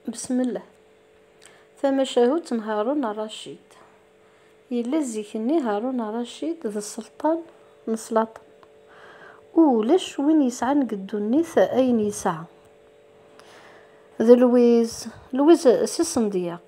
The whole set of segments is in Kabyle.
Besmella. Tamacahut n Harun Racid. Yella zik-nni Harun Racid d sselṭan n slaṭen, u ulac win yesɛan deg ddunit ayen yesɛa. D Lwiz, Lwiz Si Sendyaq.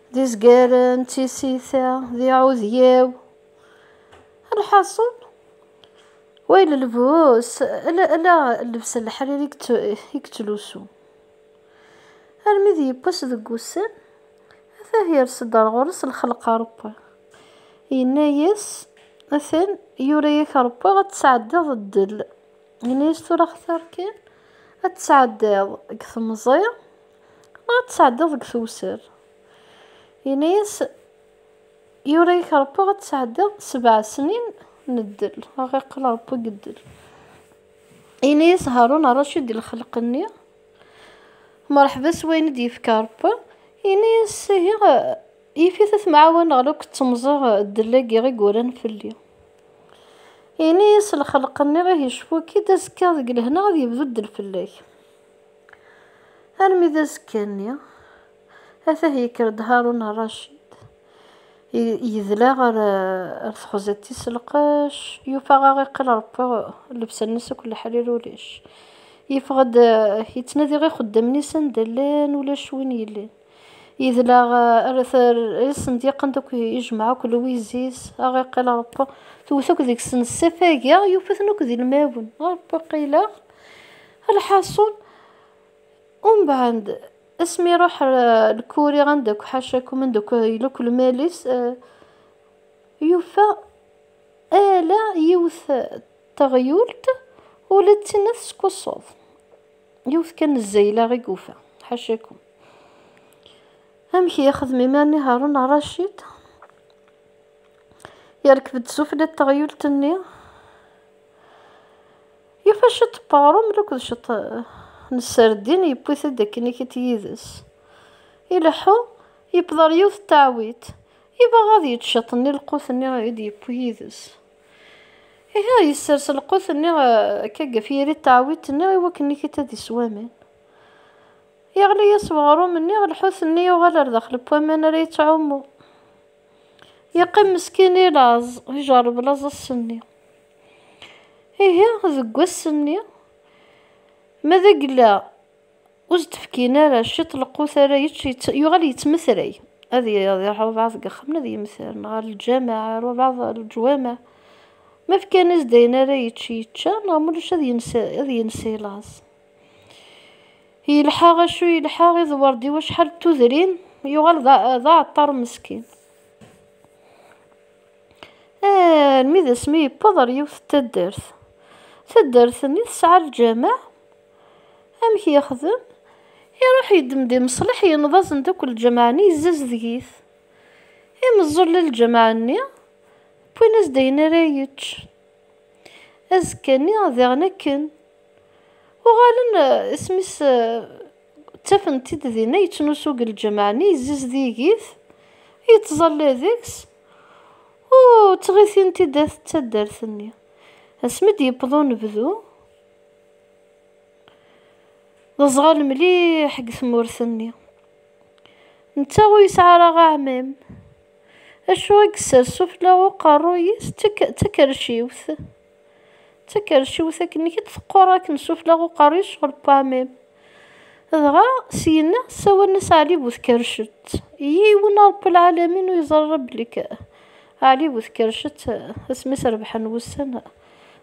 d izgaren, d tisita, d iɛudyaw. Lḥaṣun, way lelbus, ala, ala llebsa n leḥrir i yettlusu. Armi d yewwas deg wussan, atah yers-d ar ɣur-s lxelq Aṛebbi, yenna-yas, atan yura-yak Ṛebbi ad tesɛeddiḍ ddel, yenna-yas tura xtir kan ad tesɛeddiḍ deg temẓi, Ma ad tesɛeddiḍ deg tewser. Yenna-yas, Yura-yak Rebbi ad tesɛeddiḍ sebɛa snin n ddel. Ad ɣ-iqqel Rebbi deg ddel. Yenna-yas Haṛun Ṛacid di lexleq-nni, Mṛeḥba s wayen i d-yefka Ṛebbi. Yenna-yas, Ihi, yif-it ad temɛawaneɣ la k-ttemẓiɣ ddel-agi i yuran fell-i. Yenna-yas lexleq-nni, Ihi cfu-k-id, azekka deg lehna ad yebdu ddel fell-ak. Armi d azekka-nni, atah yekker-d Haṛun Ṛacid, yedla ɣer texzet tis lqec, yufa aɣiqel Ṛebbi llebsa-nnes akk leḥrir ulac. Yeffeɣ-d yettnadi ixeddamen-is anda llan, ulac win yellin. Yedleɣ rret rres n dyeqen akk yejmeɛ akk lewwizis aɣ iqqil Rebbi tewwet akk deg-sen ssif agi yufa-ten akk d ilmawen a Rebbi qileɣ lḥaṣun umbeɛd asmi iruḥ lkuri anda akk ḥacakum anda akk yella akk lmal-is yufa ala yiwet teɣyult ula d tinna teskuṣṣuḍ. Yiwet kan zzayla i yufa, ḥacakum. Amek i yexdem iman-nni Haṛun Ṛacid? Yerkeb-d sufella n teɣyult-nni, yufa ciṭ n weɣṛum akked ciṭ n sserdin, yewwi-t-id akken ikiṭ yid-s. Ileḥḥu, yewweḍ ɣer yiwet n teɛwit, yebɣa ad yečč ciṭ n lqut-nni i d-yewwi yid-s. Ihi yessers lqut-nni akka eh, ɣef yiri teɛwidt-nni i wakken ikit ad isew aman. Yeɣli-yas weɣrum-nni, lḥut-nni yuɣal ar daxel n waman ara yettɛummu. Yeqqim meskin i laẓ, ijerreb laẓ ass-nni. Ihi deg wass-nni, ma d agella ur s-d-fkin ara ciṭ lqut ara yečč, yuɣal yettmetray. Ad iṛuḥ walbaɛḍ deg axxam ad yemter, neɣ ar lǧameɛ, ar walbaɛḍ ar leǧwameɛ. Ma fkan-as-d ayen ara yečč yečča, neɣ ma ulac ad yens i laẓ. Yelḥa acu yelḥa, iḍewwer-d i wacḥal n tudrin, yuɣal d aɛeṭṭaṛ meskin. Armi d asmi yewweḍ ar yiwet n taddart. Taddart-nni tesɛa lǧameɛ, Amek yexdem? Iruḥ yeddem-d imeṣleḥ yenneḍ-asen-d akk lǧameɛ-nni yezzazedeg-it. Imeẓẓulen n lǧameɛ-nni wwin-as-d ayen ara yečč. Azekka-nni diɣen akken. Uɣalen isem-is ttafen-t-id dinna yettnusu deg lǧameɛ-nni yezzazedeg-it, yettẓalla deg-s, ur ttɣitin-t-id at taddart-nni. Asmi d-yewweḍ unebdu, D aẓɣal mliḥ deg tmurt-nni. Netta ur yesɛi ara aɛmam. Acu i yessers sufella n uqerruy-is? D takerciwt. D takerciwt akken i d-teqqur akken sufella n uqerruy-is ɣer uɛmam. Dɣa syenna ssawalen-as Ɛli bu Tkercet. Yiwen a Ṛebbi lɛalamin ur yeẓri ara belli Ɛli bu Tkercet asmi as-rebḥen wussan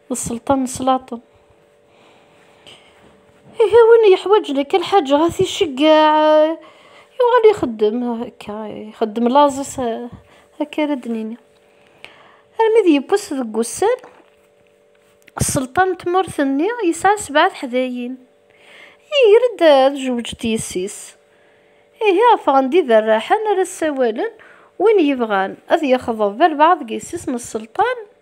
d sselṭa n slaṭen. Ihi win yeḥwaǧen akka lḥaǧa ad t-iceggeɛ, yuɣal ixeddem akka, ixeddem laẓ-is akka ara d-nini. Armi d yewwes deg wussan, sselṭa n tmurt-nni yesɛa sebɛa teḥdayin. Iger-d ad jewǧet yessi-s. Ihi ffɣen-d iberraḥen ara ssawalen win yebɣan ad yexḍeb albaɛḍ deg yessi-s n sselṭan,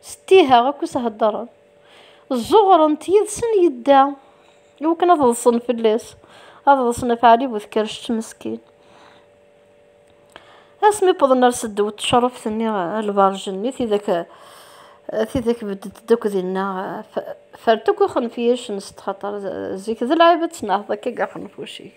Settiha akk i s-heddren. Zzuɣren-t yid-sen yedda, iwakken ad ḍsen fell-as, ad ḍsen ɣef Ɛli bu Tkerrect meskin. Asmi wwḍen ar seddaw n tecṛuft-nni, lberǧ-nni, tidak tidak bedden-d akk dinna, fert akk ixenfiyacen s txaṭer zik d lɛib ad tnehḍ akka deg axenfuc-ik.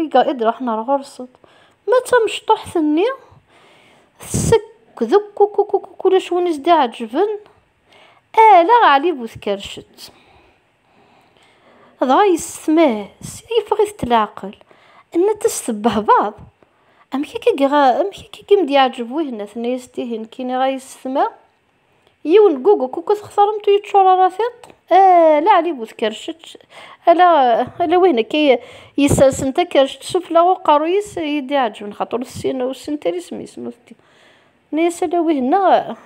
I d-ruḥen ar ɣur-sen. Ma d tamecṭuḥt-nni, tsekk dekkukukukuk ulac win i s-d-iɛeǧǧben, ala Ɛli bu Tkercett. Dɣa yessetmah, sya yeffeɣ-it-d leɛqel, yenna-tt-as tebbehbaḍ, amek akka i m-d-iɛeǧǧeb wihenna? Tenna-yas-d ihi, nekkini ara yessetma. Yiwen n gugu kuku txeṣremt ur yeččur ara tiṭ, ala Ɛli bu tkercec, ala, ala wihin akka yessersen takercec sufella uqerruy-is i yi-d-iɛeǧben xaṭer ur tessin, ur tessint ara isem-is, ma ur t-, tenna-yas ala wihin-a,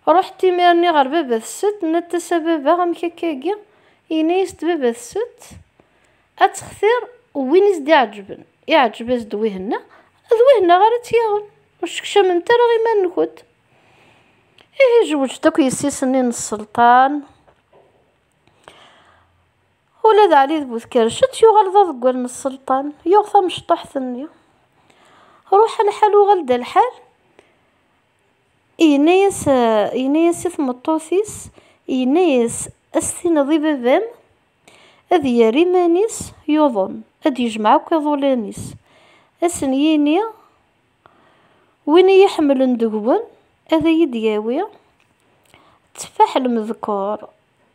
ruḥet imir-nni ɣer baba-tset, tenna-t-as a baba amek akka-agi, yenna-yas-d baba-tset, Ad textir win i s-d-iɛeǧben, iɛeǧeb-as-d wihna, d wihna ara tt-yaɣen. Ur sekcamemt ara iman-nkent. Ihi jewǧ-d akk yessi-s-nni n Sselṭan. Ula d Ɛli d Bu Tkerrcet yuɣal d aḍeggal n Sselṭan, yuɣ tamecṭuḥt-nni. Ruḥ lḥal uɣal-d lḥal, yenna-yas, yenna-yas i tmeṭṭut-is, yenna-yas, Ad s-tiniḍ i baba-m, Ad yerr iman-is yuḍen, ad d-yejmeɛ akk iḍulan-is, ad sen-yini, Win i yi-iḥemmlen deg-wen, ad iyi-d-yawi tteffaḥ n lemdekkur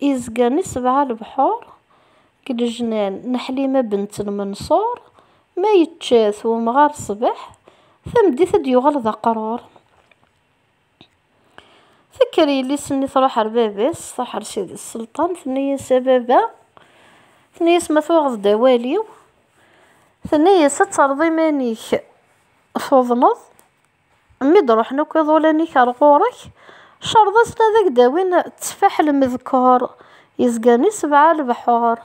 yezgan i sebɛa lebḥur, deg lejnan n Ḥlima bent n Menṣur, ma yečča-t wemɣar ṣṣbeḥ, tameddit ad d-yuɣal d aqrur. Tekker yelli-s-nni truḥ ar baba-s, truḥ ar Sidi Selṭan, tenna-yas, A baba, tenna-yas, ma tuɣeḍ-d awal-iw, tenna-yas, ad terreḍ iman-ik tuḍneḍ, mi d-ruḥen akk iḍulan-ik ar ɣur-k, cerreḍ-asen ad ak-d-awin tteffaḥ lmedkur yezgan i sebɛa lebḥur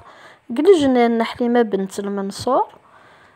deg lejnan n Ḥlima Bent Lmenṣur,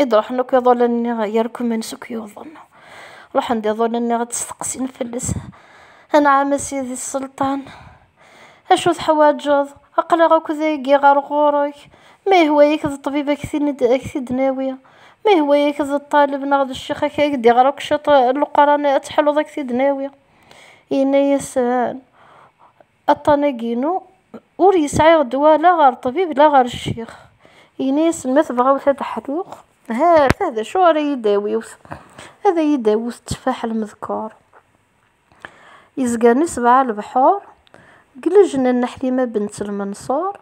I d-ruḥen akk iḍulan-nni yerkumen s akk yuḍen. Ruḥen-d iḍulan-nni ad d-steqsin fell-as. Anɛam a sidi sselṭan, acu teḥwaǧeḍ? Aql-aɣ akk dagi ɣer ɣur-k. Ma yehwa-yak d ṭṭbib ad k-t-id-nawi. Ma yehwa-yak d ṭṭaleb neɣ d ccix ad k-d-iɣer akk ciṭ n Leqran ad teḥluḍ ad k-t-id-nawi. Yenna-yasen, Aṭṭan-agi-inu ur yesɛi ddwa la ɣer ṭṭbib la ɣer ccix. Yenna-asen, Ma tebɣawt ad ḥluɣ, ha-t-a d acu ara yi-d-tawiwt, ad yi-d-tawwet tteffaḥ lmedkeṛ yezgren i sebɛa lebḥuṛ, deg lejna n Ḥlima bent Lmenṣuṛ.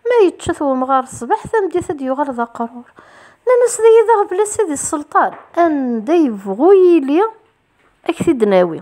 Ma yečča-t wemɣar ṣṣbeḥ, tameddit ad d-yuɣal d aqrur. Nnan-as, D ay d aɣbel-is i d sselṭan. Anda yebɣu yili, ad k-t-id-nawi.